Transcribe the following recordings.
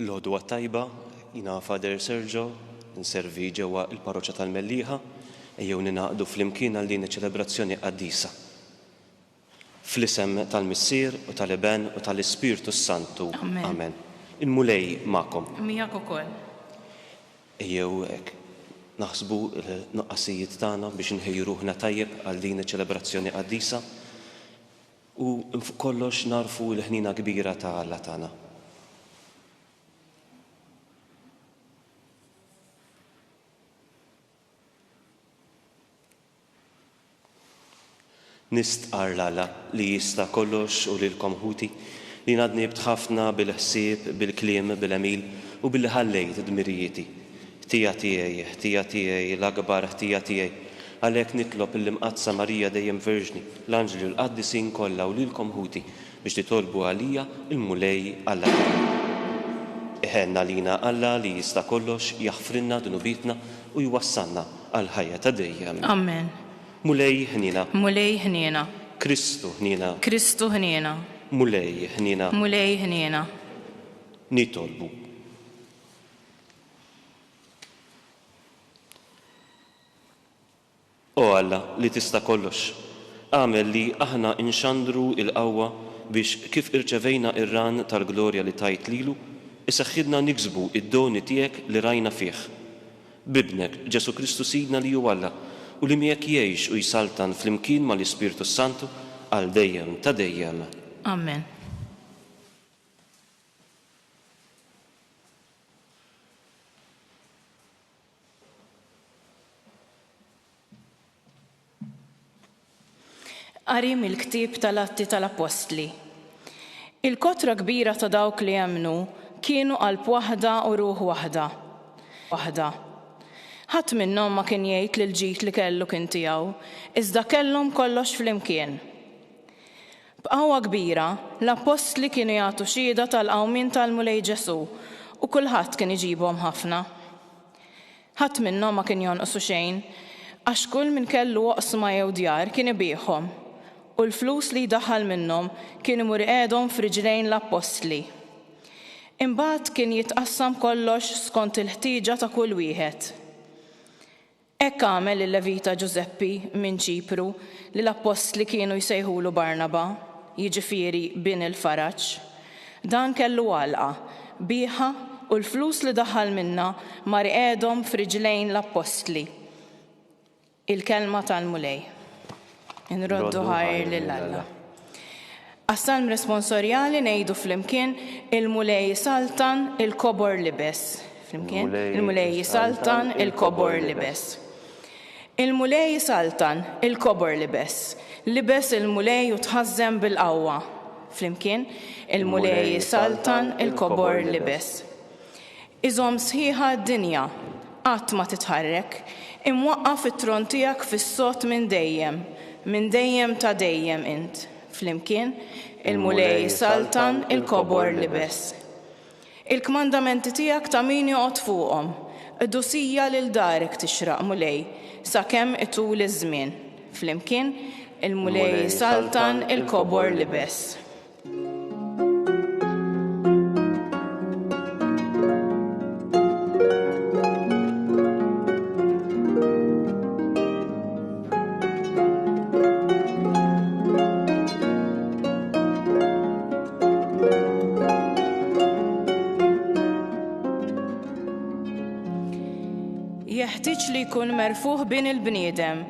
L-għodwa tajba, jiena Father Sergio, inservi ġewwa l-Parroċċa tal-Mellieħa, ejjew ningħaqdu flimkien għal din iċ-ċelebrazzjoni qaddisa. Fl-isem tal-Missier u tal-Iben u tal-Ispirtu s-Santu. Amen. Il-Mulej magħkom. Miegħek ukoll. Ejjew hekk naħsbu l-nuqqasijiet tagħna biex inħejju ruħna tajjeb għal din iċ-ċelebrazzjoni qaddisa. U fuq kollox nagħrfu l-ħniena kbira ta' Alla tagħna. Nistqarr l-Alla li jista' kollox u lilkom ħuti, li jiena dnibt ħafna bil-ħsieb, bil-kliem, bil-għemil u billi ħallejt dmirijieti. Ħtija tiegħi, ħtija tiegħi, l-akbar ħtija tiegħi! Għalhekk nitlob lill-Imqaddsa Marija Dejjem Verġni, l-anġli u l-qaddisin kollha u lilkom ħuti biex titolbu għalija, il-Mulej Alla tagħna. Iħenn għalina Alla li jista' kollox jaħfrilna dnubietna u jwassalna għall-ħajja ta' dejjem. Amen. Mulej ħniena. Mulej ħniena. Kristu ħniena. Kristu ħniena. Mulej ħniena. Mulej ħniena. Nitolbu. O Alla li tista' kollox, agħmel li aħna nxandru l-qawwa biex kif irċevejna r-ran tal-glorja li tajt lilu, iseħħilna niksbu d-doni tiegħek li rajna fih. B'Ibnek, Ġesù Kristu Sidna li hu Alla u li miegħek jgħix u jsaltan flimkien mal-Ispirtu s-Santu għal dejjem ta' dejjem. Amen. Qari mill-ktieb tal-Atti tal-Appostli. Il-kotra kbira ta' dawk li emmnu kienu qalb waħda u ruħ waħda. Waħda. Ħadd minnhom ma kien jgħid li l-ġid li kellu kien tiegħu, iżda kellhom kollox flimkien. B'qawwa kbira, l-appostli kienu jagħtu xhieda tal-qawmien tal-Mulej Ġesù, u kulħadd kien iġibhom ħafna. Ħadd minnhom ma kien jonqsu xejn, għax kull min kellu oqsma jew djar kien ibiegħhom, u l-flus li jdaħħal minnhom kien imur iqegħedhom f'riġlejn l-appostli. Imbagħad kien jitqassam kollox skont il-ħtieġa ta' kull wieħed. Hekk għamel il-Levita Ġużeppi minn Ċipru li l-appostli kienu jsejħulu Barnaba, jiġifieri Bin il-Faraġ. Dan kellu għalqa, bigħha u l-flus li daħħal minnha mar qiegħedhom f'riġlejn l-appostli, il-kelma tal-Mulej. Nroddu ħajr lil Alla. Għas-salm responsorjali ngħidu flimkien il-Mulej isaltan il-kobor libes. Flimkien, il-Mulej isaltan il-kobor libes. Il-Mulej isaltan il-kobor libes. Libes il-Mulej u tħażżem bil-qawwa. Flimkien, il-Mulej isaltan il-kobor libes. Iżomm sħiħa d-dinja, qatt ma titħarrek, imwaqqaf it-tron tiegħek fis-sod minn dejjem, minn dejjem ta' dejjem int, flimkien, il-Mulej isaltan il-kobor libes. Il-kmandamenti tiegħek ta' min joqgħod fuqhom, qdusija lil darek tixraq, Mulej, sakemm itul iż-żmien, flimkien, il-Mulej isaltan il-kobor libes. jkun merfuħ bin il-bniedem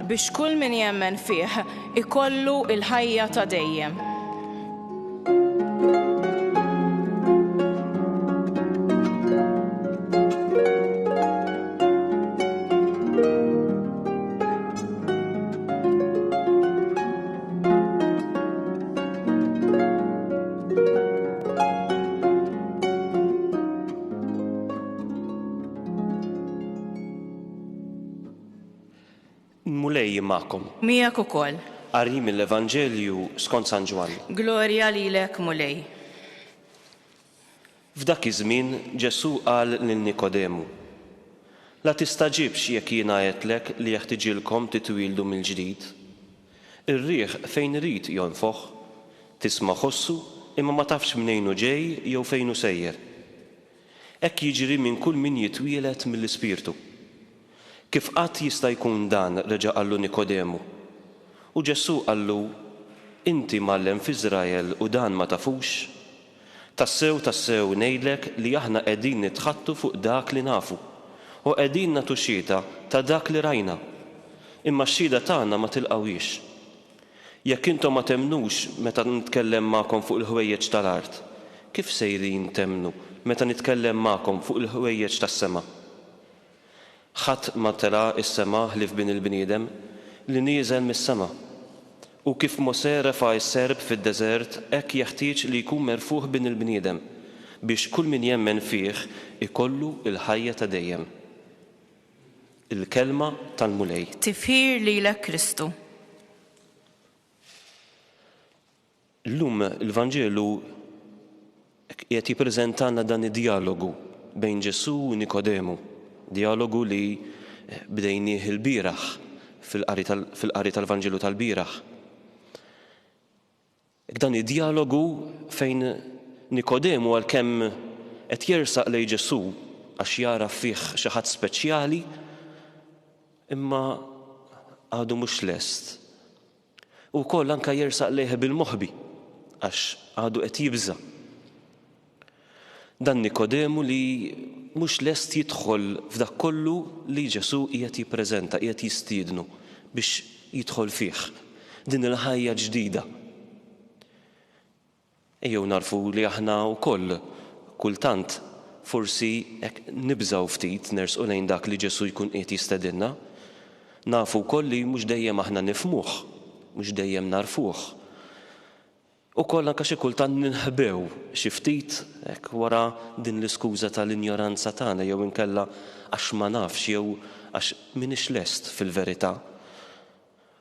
Biex kull min jemmen fih ikollu l-ħajja ta' dejjem. L-Mulej jien magħkom. Miegħek ukoll. Qari mill-Evanġelju skont San Ġwann. Glorja lilek, Mulej. F'dak iż-żmien Ġesù qal lil Nikodemu, La tistagħġibx jekk jiena għedtlek li jeħtiġilkom titwieldu mill-ġdid. Ir-riħ fejn irid jonfoħ, tisma' ħossu imma ma tafx mnejn hu ġej jew fejn hu sejjer. Hekk jiġri minn kull min jitwieled mill-Ispirtu. Kif qatt jista' jkun dan? reġa' qallu Nikodemu. U Ġesù qallu, Inti mgħallem f'Iżrael u dan ma tafux? Tassew, tassew, ngħidlek li aħna qegħdin nitħaddtu fuq dak li nafu, u qegħdin nagħtu xhieda ta' dak li rajna, imma x-xhieda tagħna ma tilqgħuhiex. Jekk intom ma temmnux meta nitkellem magħkom fuq il-ħwejjeġ tal-art, kif sejrin temmnu meta nitkellem magħkom fuq il-ħwejjeġ tas-sema? Ħadd ma ttela' s-sema ħlief Bin il-bniedem, li nieżel mis-sema. U kif Mosè refa' s-serp fid-deżert, hekk jeħtieġ li jkun merfugħ Bin il-bniedem, biex kull min jemmen fih ikollu l-ħajja ta' dejjem. Il-Kelma tal-Mulej. Tifħir lilek Kristu. Illum il-Vanġelu qiegħed jippreżentalna dan id-djalogu bejn Ġesù u Nikodemu, djalogu li bdejnieh ilbieraħ fil-qari tal-Vanġelu tal-bieraħ. Dan id-djalogu fejn Nikodemu għalkemm qed jersaq lejn Ġesù għax jara fih xi ħadd speċjali, imma għadu mhux lest Hu wkoll anke jersaq lejha bil-moħbi, għax għadu qed jibża'. Dan Nikodemu li mhux lest jidħol f'dak kollu li Ġesù qiegħed jippreżenta, qiegħed jistiednu biex jidħol fih, din il-ħajja ġdida. Ejjew nagħrfu li aħna wkoll kultant forsi hekk nibżgħu ftit nersqu lejn dak li Ġesù jkun qiegħed jistedinna. Nafu wkoll li mhux dejjem aħna nifhmuh, mhux dejjem nagħrfuh. Ukoll anke xi kultant ninħbew xi ftit hekk wara din l-iskuża tal-injoranza tagħna jew inkella għax ma nafx jew għax m'iniex lest fil-verità.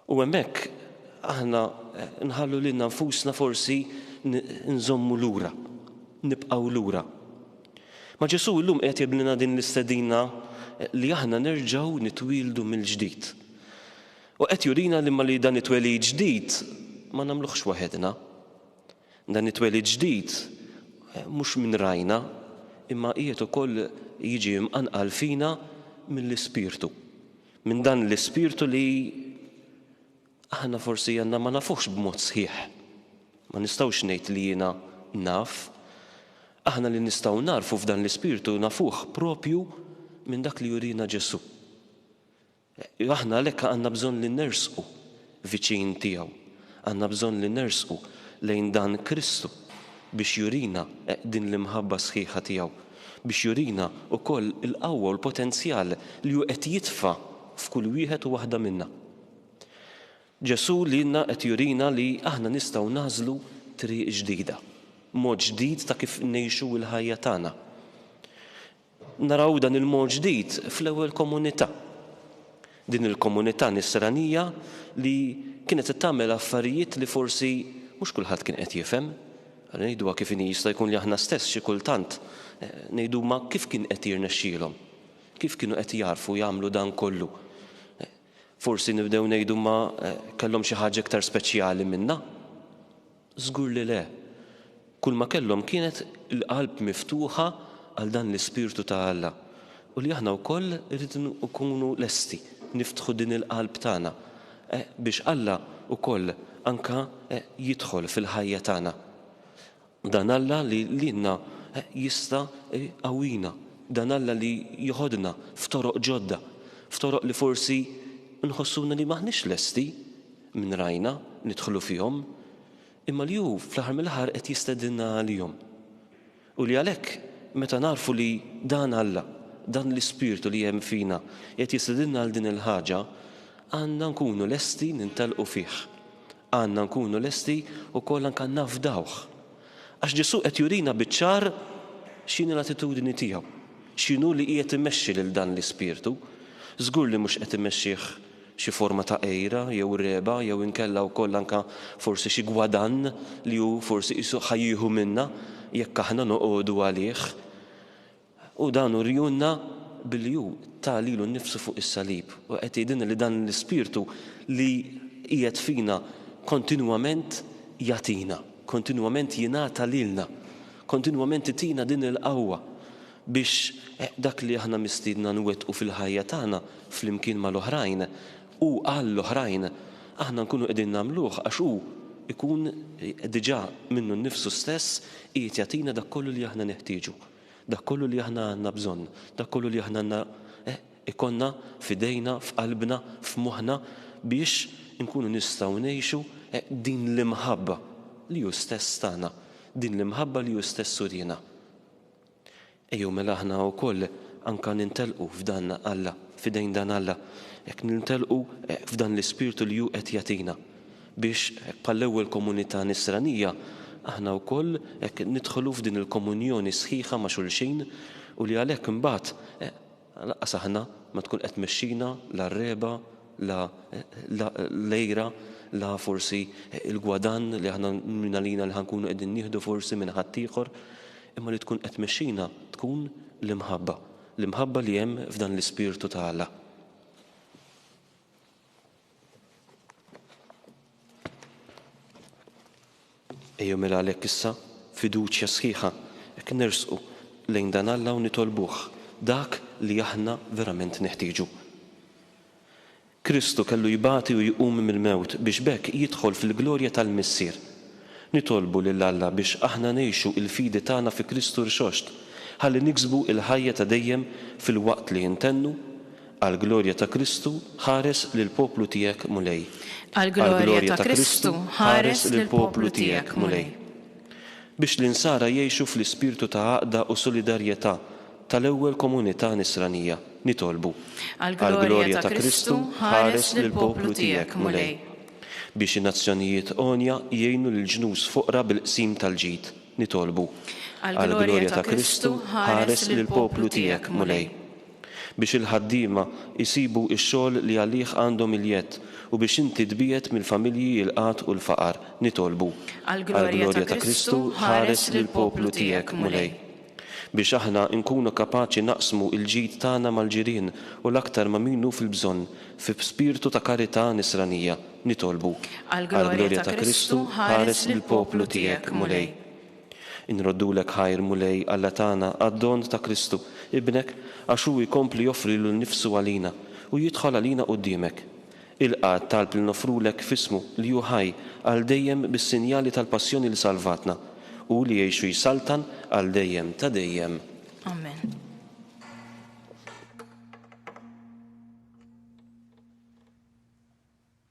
U hemmhekk aħna nħallu lilna nfusna forsi nżommu lura, nibqgħu lura. Ma' Ġesù llum qiegħed jagħmlilna din l-istedina li aħna nerġgħu nitwieldu mill-ġdid. U qed jurina li ma li dan it-twelid ġdid ma nagħmluhx waħedna. Dan it-twelid ġdid mhux minn rajna imma qiegħed ukoll jiġi mqanqal fina mill-Ispirtu. Minn dan l-ispirtu li aħna forsi għandna ma nafuhx b'mod sħiħ. Ma nistgħux ngħid li jiena naf. Aħna li nistgħu nagħrfu f'dan l-ispirtu nafuh proprju minn dak li jurina Ġesù. Aħna għalhekk għandna bżonn li nersqu viċin tiegħu. Għandna bżonn li nersqu lejn dan Kristu biex jurina din l-imħabba sħiħa tiegħu, biex jurina wkoll il-qawwa u l-potenzjal li hu qed jitfa' f'kull wieħed u waħda minna. Ġesù lilna qed jurina li aħna nistgħu nagħżlu triq ġdida, mod ġdid ta' kif ngħixu l-ħajja tagħna. Naraw dan il-mod ġdid fl-ewwel komunità. Din il-komunità nisranija li kienet qed tagħmel affarijiet li forsi mhux kulħadd kien qed jifhem. Ara ngħiduha kif inhi jista' jkun li aħna stess xi kultant ngħidu ma kif kien qed jirnexxielhom? Kif kienu qed jagħrfu jagħmlu dan kollu? Forsi nibdew ngħidu ma kellhom xi ħaġa iktar speċjali minna? Żgur li le! Kulma kellhom kienet il-qalb miftuħa għal dan l-ispirtu ta' Alla u li aħna wkoll irridu nkunu lesti niftħu din il-qalb tagħna biex Alla wkoll anke jidħol fil-ħajja tagħna. Dan Alla li lilna jista' jqawwina, dan Alla li jeħodna f'toroq ġodda, f'toroq li forsi nħossuna li m'aħniex lesti. minn rajna nidħlu fihom, imma li hu fl-aħħar mill-aħħar qed jistedinna għalihom. U li għalhekk meta nagħrfu li dan Alla, dan l-Ispirtu li hemm fina qiegħed jistedinna għal din il-ħaġa, għandna nkunu lesti nintellqu fih. Għandna nkunu lesti wkoll anke nafdawh. Għax Ġesù qed jurina biċ-ċar x'inhi l-attitudni tiegħu, x'inhu li qiegħed imexxi lil dan l-Ispirtu. Żgur li mhux qed imexxih xi forma ta' għira jew regħba jew inkella wkoll anke forsi xi gwadann li hu forsi qisu ħa jieħu minna jekk aħna noqogħdu għalih. U dan uriehulna billi hu ta lilu nnifsu fuq is-salib u qed jgħidilna li dan l-Ispirtu li qiegħed fina kontinwament jagħtina, kontinwament jingħata lilna, kontinwament itina din il-qawwa. Biex dak li aħna mistiedna nwettqu fil-ħajja tagħna flimkien mal-oħrajn u għall-oħrajn, aħna nkunu qegħdin nagħmluh għax hu jkun diġà minnu nnifsu stess qiegħed jagħtina dak kollu li aħna neħtieġu, dak kollu li aħna għandna bżonn, dak kollu li aħna għandna jkollna f'idejna, f'qalbna, f'moħħna biex inkunu nistgħu ngħixu din l-imħabba li hu stess tana, din l-imħabba li hu stess uriena. Ejjew mela aħna wkoll anka nintelqu f'dan Alla, f'idejn dan Alla, hekk nintelqu f'dan l-ispirtu li hu qed jagħtina, biex hekk bħall-ewwel komunità Nisranija aħna wkoll hekk nidħlu f'din il-komunjoni sħiħa ma' xulxin u li għalhekk imbagħad Lanqas aħna ma tkun qed tmexxina la r-regħba, la l-għira, la forsi l-gwadann li aħna minn għalina li ħa nkunu qegħdin nieħdu forsi minn ħaddieħor, imma li tkun qed tmexxina tkun l-imħabba, l-imħabba li hemm f'dan l-ispirtu ta' Alla. Ejjew mela għalhekk issa fiduċja sħiħa hekk nersqu lejn dan Alla u nitolbuh dak li aħna verament neħtieġu. Kristu kellu jbati u jqum mill-mewt biex b'hekk jidħol fil-glorja tal-Missier. Nitolbu lil Alla biex aħna ngħixu l-fidi tagħna fi Kristu rxoxt ħalli niksbu l-ħajja ta' dejjem filwaqt li intennu Għall-glorja ta' Kristu, ħares lill-poplu tiegħek, Mulej. Għall-glorja ta' Kristu, ħares lill-poplu tiegħek, Mulej. Biex l-Insara jgħixu fl-ispirtu ta' għaqda u solidarjetà tal-ewwel komunità Nisranija, nitolbu. Għall-glorja ta' Kristu, ħares lill-poplu tiegħek, Mulej. Biex in-nazzjonijiet għonja jgħinu lill-ġnus foqra bil-qsim tal-ġid, nitolbu. Għall-glorja ta' Kristu, ħares lill-poplu tiegħek, Mulej. biex il-ħaddiema jsibu x-xogħol li għalih għandhom il-jedd u biex inti tbiegħed mill-familji il-qgħad u l-faqar, nitolbu, għall-glorja ta' Kristu, ħares lill-poplu tiegħek, Mulej. Biex aħna nkunu kapaċi naqsmu l-ġid tagħna mal-ġirien u l-aktar ma' min hu fil-bżonn, fi spirtu ta' karità nisranija, nitolbu, għall-glorja ta' Kristu, ħares lill-poplu tiegħek, Mulej. Inroddulek ħajr, Mulej Alla tagħna, għad-don ta' Kristu, Ibnek, għax hu jkompli joffrilu nnifsu għalina u jidħol għalina quddiemek. Ilqa' t-talb li noffrulek f'ismu, li hu ħaj għal dejjem bis-sinjali tal-passjoni li salvatna, hu li jgħix u jsaltan għal dejjem ta' dejjem. Amen.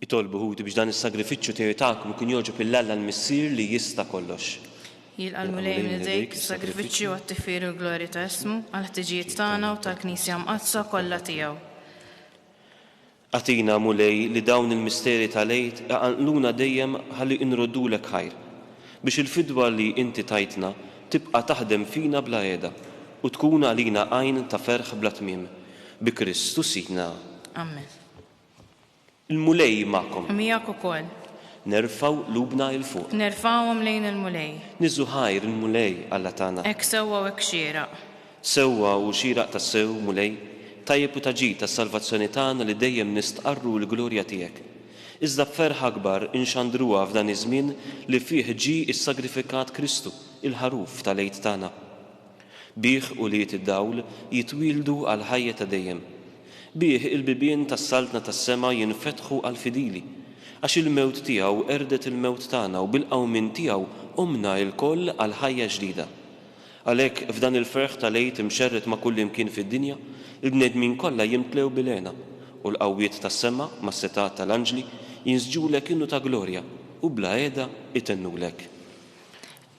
Itolbu ħuti biex dan is-sagrifiċċju tiegħi tagħkom ikun jogħġob lil Alla l-Missier li jista' kollox. Jilqa' l-Mulej minn idejk is-sagrifiċċju għat-tifħir u l-glorja ta' ismu, għall-ħtiġijiet tagħna u tal-Knisja mqaddsa kollha tiegħu. Agħtina, Mulej, li dawn il-misteri tal-Għid iqanqluna dejjem ħalli inroddulek ħajr, biex il-fidwa li inti tajtna tibqa' taħdem fina bla qiegħda u tkun għalina għajn ta' ferħ bla tmiem. Bi Kristu Sidna. Amen. Il-Mulej magħkom. U miegħek ukoll. Nerfgħu qlubna 'il fuq. Nerfgħuhom lejn il-Mulej. Nieżu ħajr il-Mulej Alla tagħna. Hekk sewwa u hekk xieraq. Sewwa u xieraq tassew, Mulej, tajjeb u ta' ġid għas-salvazzjoni tagħna li dejjem nistqarru l-glorja tiegħek. Iżda b'ferħ akbar inxandruha f'dan iż-żmien li fih ġie ssagrifikat Kristu, il-Ħaruf tal-Għid tagħna. Bih ulied id-dawl jitwieldu għall-ħajja ta' dejjem. Bih il-bibien tas-Saltna tas-sema jinfetħu għall-fidili. Għax il-mewt tiegħu qerdet il-mewt tagħna u bil-qawmien tiegħu qumna lkoll għal ħajja ġdida. Għalhekk, f'dan il-ferħ tal-Għid imxerred ma' kullimkien fid-dinja, il-bnedmin kollha jimtlew bil-hena, u l-qawwiet tas-sema, mas-setgħat tal-anġli, jinsġulek innu ta' glorja, u bla heda itennulek.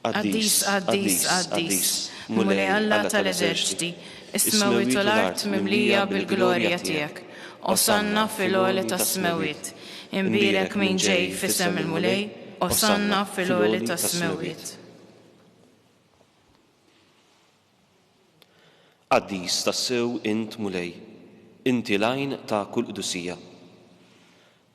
Qaddis, qaddis, qaddis, Mulej Alla tal-eżerċti, is-smewwiet u l-art mimlija bil-glorja tiegħek. Osanna fil-għoli tas-smewwiet. Imbierek min ġej f'isem il-Mulej, osanna fil-għoli tas-smewwiet. Qaddis tassew int Mulej, inti l-għajn ta' kull qdusija.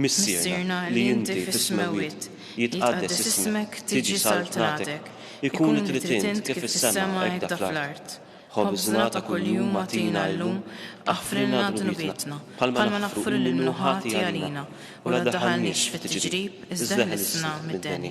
Missierna li inti fis-smewwiet, jitqaddes ismek, tiġi saltnatek, ikun li trid int kif fis-sema hekk dak fl-art. Ħobżna ta' kuljum agħtina illum, aħfrilna dnubietna, bħalma naħfru lil min hu ħati għalina, u la ddaħħalniex fit-tiġrib, iżda ħlisna mid-deni.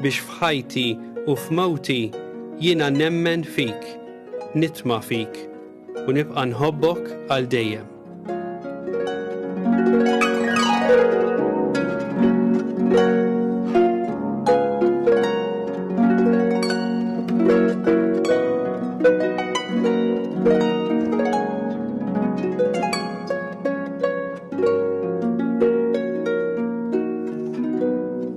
biex f'ħajti u f'mewti jiena nemmen fik, nitma' fik u nibqa' nħobbok għal dejjem.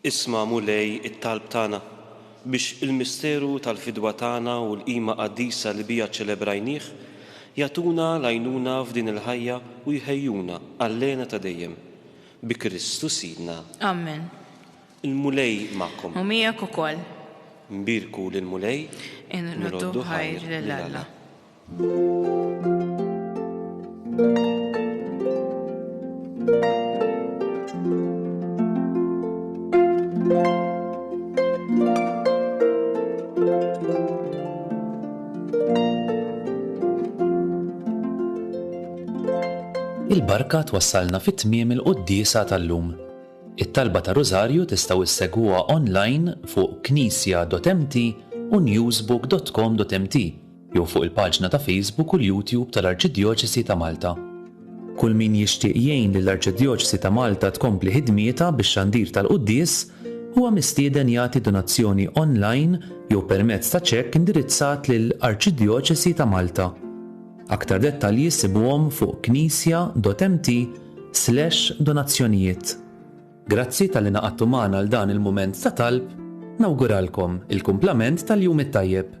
Isma', Mulej, it-talb tagħna, biex il-misteru tal-fidwa tagħna u l-qima qaddisa li biha ċċelebrajnih jagħtuna l-għajnuna f'din il-ħajja u jħejjuna għall-hena ta' dejjem. Bi Kristu Sidna. Amen. Il-Mulej magħkom. U miegħek ukoll. Nbierku lill-Mulej. Inroddu b'ħajr lil Alla. Il-barka twassalna fi tmiem il-quddiesa tal-lum. It-talba ta' Rużarju tistgħu issegwuha online fuq knisja.mt u newsbook.com.mt. jew fuq il-paġna ta' Facebook u l-YouTube tal-Arċidjoċesi ta' Malta. Kull min jixtieq jgħin lill-Arċidjoċesi ta' Malta tkompli ħidmietha bix-xandir tal-quddies huwa mistieden jagħti donazzjoni online jew permezz ta' ċekk indirizzat lil Arċidjoċesi ta' Malta. Aktar dettalji ssibuhom fuq knisja dot mt slash donazzjonijiet. Grazzi talli ngħaqadtu magħna għal dan il-mument ta' talb, nawguralkom il-kumplament tal-jum it-tajjeb.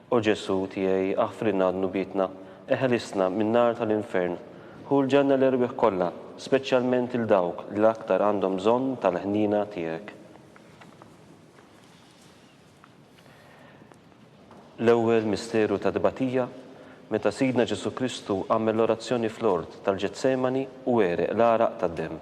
O Ġesù tiegħi aħfrilna dnubietna, eħelisna min-nar tal-infern, ħu l-ġenna l-erwieħ kollha, speċjalment lil dawk li l-aktar għandhom bżonn tal-ħniena tiegħek. L-ewwel misteru ta' tbatija, meta Sidna Ġesù Kristu għamel l-orazzjoni fl-ort tal-Ġetsemani u għereq l-għaraq tad-demm.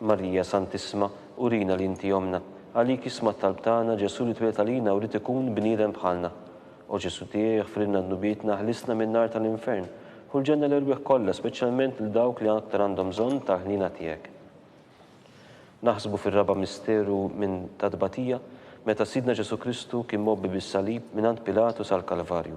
Marija Santissma, urina li inti ommna. Għalik isma' t-talb tagħna, Ġesù li twieled għalina u ried ikun bniedem bħalna. O Ġesù tiegħi, iħfrilna dnubietna, ħlisna min-nar tal-infern. Ħu l-ġenna l-erwieħ kollha, speċjalment lil dawk li aktar għandhom bżonn tal-ħniena tiegħek. Naħsbu fir-raba' misteru minn tat-tbatija, meta Sidna Ġesù Kristu kien mgħobbi bis-salib mingħand Pilatu sal-Kalvarju.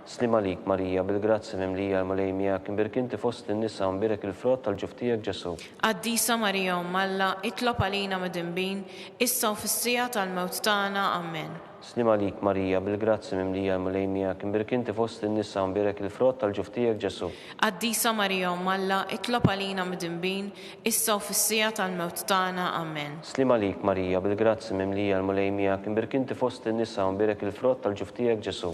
Sliem għalik, Marija, bil-grazzja mimlija, il-Mulej miegħek, imbierek inti fost in-nisa u mbierek il-frott tal-ġuf tiegħek, Ġesù. Qaddisa Marija Omm Alla, itlob għalina midinbin, issa u fis-siegħa tal-mewt tagħna. Amen. Sliem għalik, Marija, bil-grazzja mimlija, il-Mulej miegħek, imbierek inti fost in-nisa u mbierek il-frott tal-ġuf tiegħek, Ġesù. Qaddisa Marija Omm Alla, itlob għalina midinbin, issa u fis-siegħa tal-mewt tagħna. Amen. Sliem għalik, Marija, bil-grazzja mimlija, il-Mulej miegħek, imbierek inti fost in-nisa u mbierek il-frott tal-ġuf tiegħek, Ġesù.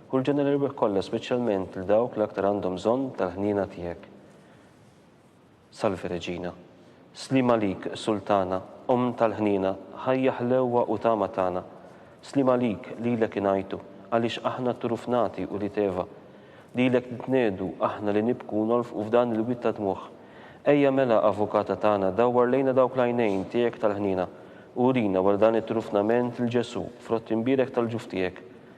Kull ġenna l-irwieħ kollha speċjalment lil dawk li aktar għandhom bżonn tal-ħniena tiegħek. Salve Regina. Sliem għalik, Sultana, Omm tal-ħniena, ħajja ħlewwa u tama tagħna. Sliem għalik, lilek ingħajtu, għaliex aħna t-trufnati ulied Eva. Lilek nitniegħdu, aħna li nibku u nolfqu f'dan il-wied ta' dmugħ. Ejja mela, Avukata tagħna, dawwar lejna dawk l-għajnejn tiegħek tal-ħniena, u urina wara dan it-trufnament lil Ġesù, frott imbierek tal-ġuf tiegħek.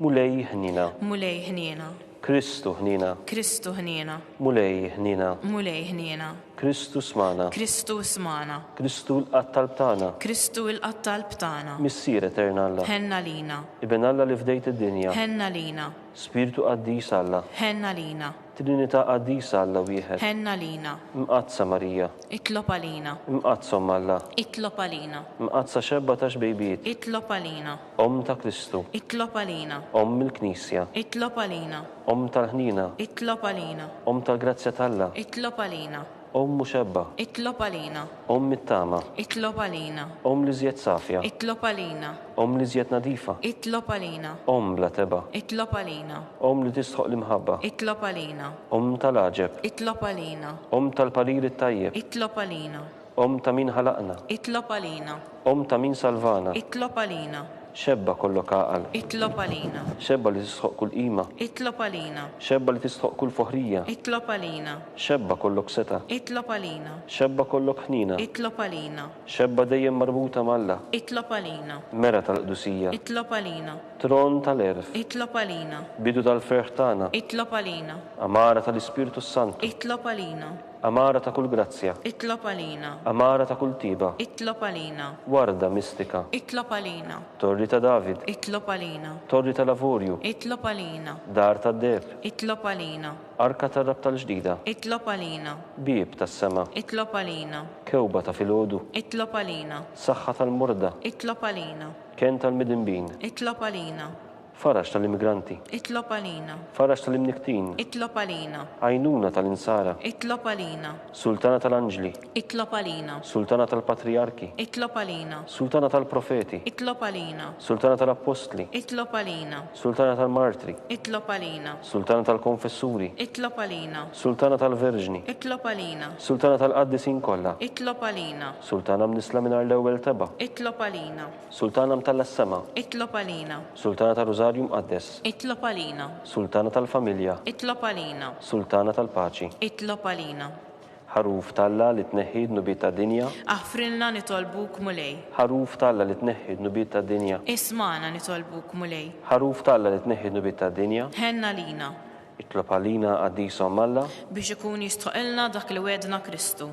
Mulej ħniena. Mulej ħniena. Kristu ħniena. Kristu ħniena. Mulej ħniena. Mulej ħniena. Kristu smana. Kristu smana. Kristu ilqa' t-talb tagħna. Kristu ilqa' t-talb tagħna. Missier Etern Alla. Ħenn għalina. Iben Alla li fdejt id-dinja. Ħenn għalina. Spirtu Qaddis Alla. Ħenn għalina. Trinità Qaddisa Alla Wieħed. Ħenn għalina. Mqaddsa Marija. Itlob għalina. Mqaddsa Omm Alla. Itlob għalina. Mqaddsa Xebba ta' Xbejbiet. Itlob għalina. Omm ta' Kristu. Itlob għalina. Omm il-Knisja. Itlob għalina. Omm tal-ħniena. Itlob għalina. Omm tal-grazzja t'Alla. Itlob għalina. Omm muxebba. Itlob għalina. Omm it-tama. Itlob għalina. Omm l-iżjed safja. Itlob għalina. Omm l-iżjed nadifa. Itlob għalina. Omm bla tebgħa. Itlob għalina. Omm li tistħoqq l-imħabba. Itlob għalina. Omm tal-għaġeb. Itlob għalina. Omm tal-parir it-tajjeb. Itlob għalina. Omm ta' min ħalaqna. Itlob għalina. Omm ta' min salvana. Itlob għalina. Xebba kollok għaqal. Itlob għalina. Xebba li tistħoqq kull qima. Itlob għalina. Xebba li tistħoqq kull foħrija. Itlob għalina. Xebba kollok setgħa. Itlob għalina. Xebba kollok ħniena. Itlob għalina. Xebba dejjem marbuta ma' Alla. Itlob għalina. Mera tal-qdusija. Itlob għalina. Tron tal-għerf. Itlob għalina. Bidu tal-ferħ tagħna. Itlob għalina. Għamara tal-Ispirtu s-Santu. Itlob għalina. Għamara ta' kull grazzja. Itlob għalina. Għamara ta' kull tiba. Itlob għalina. Warda mistika. Itlob għalina. Torri ta' David. Itlob għalina. Torri ta' l-avurju. Itlob għalina. Dar tad-deheb. Itlob għalina. Arka tar-Rabb tal-ġdida. Itlob għalina. Bieb tas-sema. Itlob għalina. Kewba ta' filgħodu. Itlob għalina. Saħħa tal-morda. Itlob għalina. Kenn tal-midinbin. Itlob għalina. Faraġ tal-immigranti. Itlob għalina. Faraġ tal-imnikktin. Itlob għalina. Għajnuna tal-insara. Itlob għalina. Sultana tal-anġli. Itlob għalina. Sultana tal-patrijarki. Itlob għalina. Sultana tal-profeti. Itlob għalina. Sultana tal-appostli. Itlob għalina. Sultana tal-martri. Itlob għalina. Sultana tal-konfessuri. Itlob għalina. Sultana tal-verġni. Itlob għalina. Sultana tal-qaddisin kollha. Itlob għalina. Sultana mnissla mingħajr l-ewwel tebgħa. Itlob għalina. Sultana mtella s-sema. Itlob għalina. Sultana tar-Rużarju Mqaddes. Itlob għalina. Sultana tal-familja. Itlob għalina. Sultana tal-paċi. Itlob għalina. Ħaruf t'Alla li tneħħi d-dnubiet tad-dinja. Aħfrilna nitolbuk, Mulej. Ħaruf t'Alla li tneħħi d-dnubiet tad-dinja. Ismagħna nitolbuk, Mulej. Ħaruf t'Alla li tneħħi d-dnubiet tad-dinja. Ħenn għalina. Itlob għalina, Qaddisa Omm Alla. Biex ikun jistħoqilna dak li wegħdna Kristu.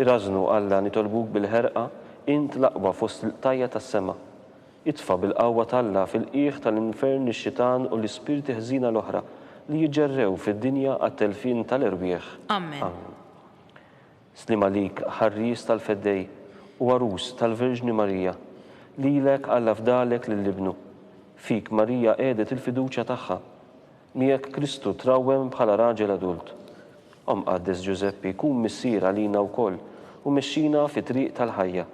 Irażżnu, Alla, nitolbuk bil-ħerqa, int l-aqwa fost il-qtajja' tas-sema. Itfa' bil-qawwa t'Alla fil-qiegħ tal-infern lix-xitan u l-ispirti ħżiena l-oħra li jiġġerrew fid-dinja għat-telfien tal-erwieħ. Ammen. Sliem għalik, Ħarries tal-Feddej u Għarus tal-Verġni Marija. Lilek Alla fdalek lil Ibnu. Fik Marija qiegħdet il-fiduċja tagħha. Miegħek Kristu trawwem bħala raġel adult. O Mqaddes Ġużeppi, kun missier għalina wkoll u mexxina fit-triq tal-ħajja.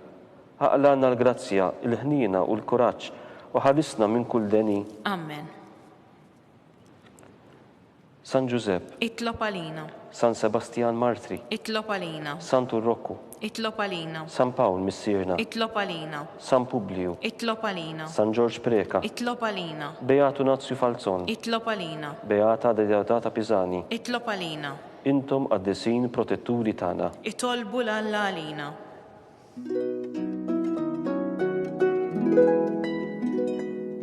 Aqlagħna l-grazzja, il-ħniena u l-kuraġġ u ħarisna minn kull deni. Amen. San Ġużepp. Itlob għalina. San Sebastjan Martri. Itlob għalina. Santu Rokku. Itlob għalina. San Pawl, Missierna. Itlob għalina. San Publiju. Itlob għalina. San Ġorġ Preca. Itlob għalina. Beat Unazju Falzon. Itlob għalina. Beata Deodata Pisani. Itlob għalina. Intom qaddisin protetturi tagħna. Itolbu 'l Alla għalina.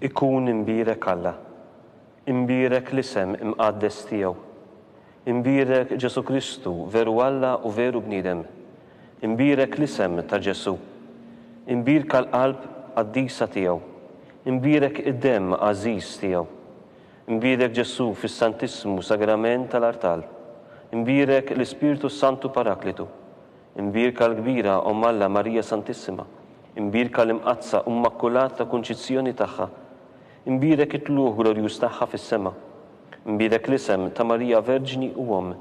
Ikun imbierek Alla, imbierek l-isem imqaddes tiegħu, imbierek Ġesù Kristu veru Alla u veru bniedem, imbierek l-isem ta' Ġesù, imbierka l-qalb qaddisa tiegħu, imbierek id-demm għażiż tiegħu, Imbierek Ġesù fis-Santissmu Sagrament tal-Artal. Imbierek l-Ispirtu s-Santu Paraklitu. Imbierka l-kbira Omm Alla Marija Santissima. Imbierka l-Imqaddsa u Mmakkulata Kunċizzjoni tagħha. Imbierek it-tlugħ glorjuż tagħha fis-sema. Imbierek l-isem ta' Marija Verġni u Omm.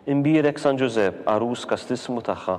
Imbierek San Ġużepp, Għarus Kastissmu tagħha.